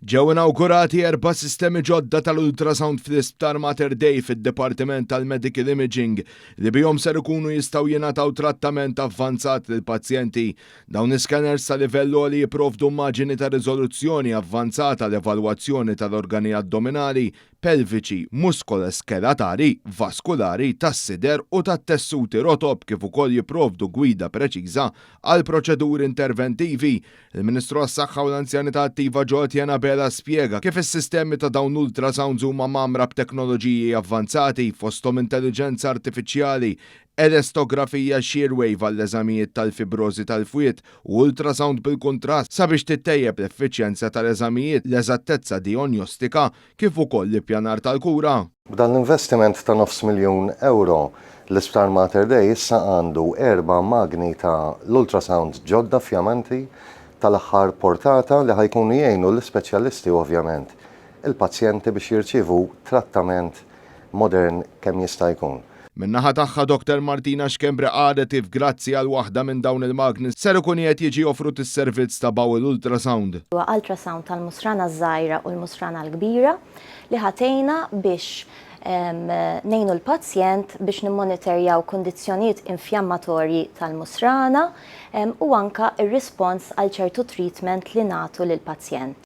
Ġew inawgurati erba' sistemi ġodda tal-ultrasound fl-Isptar Mater Dei fid-Dipartiment tal-Medical Imaging li bihom ser ikunu jistgħu jingħataw trattament avvanzat lill-pazjenti. Dawn is-scanners ta' livell għoli jipprovdu immaġini ta' riżoluzzjoni avvanzata għal evalwazzjoni tal-organi addominali, pelviċi, muskolo-skelatari, vaskulari, tas-sider u tat-tessuti rotob kif ukoll jipprovdu gwida preċiża għall-proċeduri interventivi. Il-Ministru għas-Saħħa u l-Anzjanità Attiva Joe Etienne Abela spjega kif is-sistemi ta' dawn l-ultrasounds huma mgħammra b'teknoloġiji avvanzati, fosthom intelliġenza artifiċjali, elastografija shear wave għall-eżamijiet tal-fibrożi tal-fwied u ultrasound bil-kuntrast sabiex tittejjeb l-effiċjenza tal-eżamijiet, l-eżattezza dijonjostika kif ukoll l-ippjanar tal-kura. B'dan l-investiment ta' nofs miljun ewro, l-Isptar Mater Dei issa għandu erba' magni ta' l-ultrasound ġodda fjamanti tal-aħħar portata li ħa jkunu jgħinu l-ispeċjalisti u ovvjament il-pazjenti biex jirċievu trattament modern kemm jista' jkun. Min-naħa tagħha Doktor Martina Schembri qalet if grazzi għal waħda minn dawn il-magni ser ikun qiegħed jiġi offrut is-servizz ta' bowel ultrasound. Huwa ultrasound tal-musrana ż-żgħira u l-musrana l-kbira li ħa tgħinna biex ngħinu l-pazjent biex nimmonitorjaw kundizzjonijiet infjammatorji tal-musrana u anke r-rispons għal ċertu treatment li nagħtu lill-pazjent.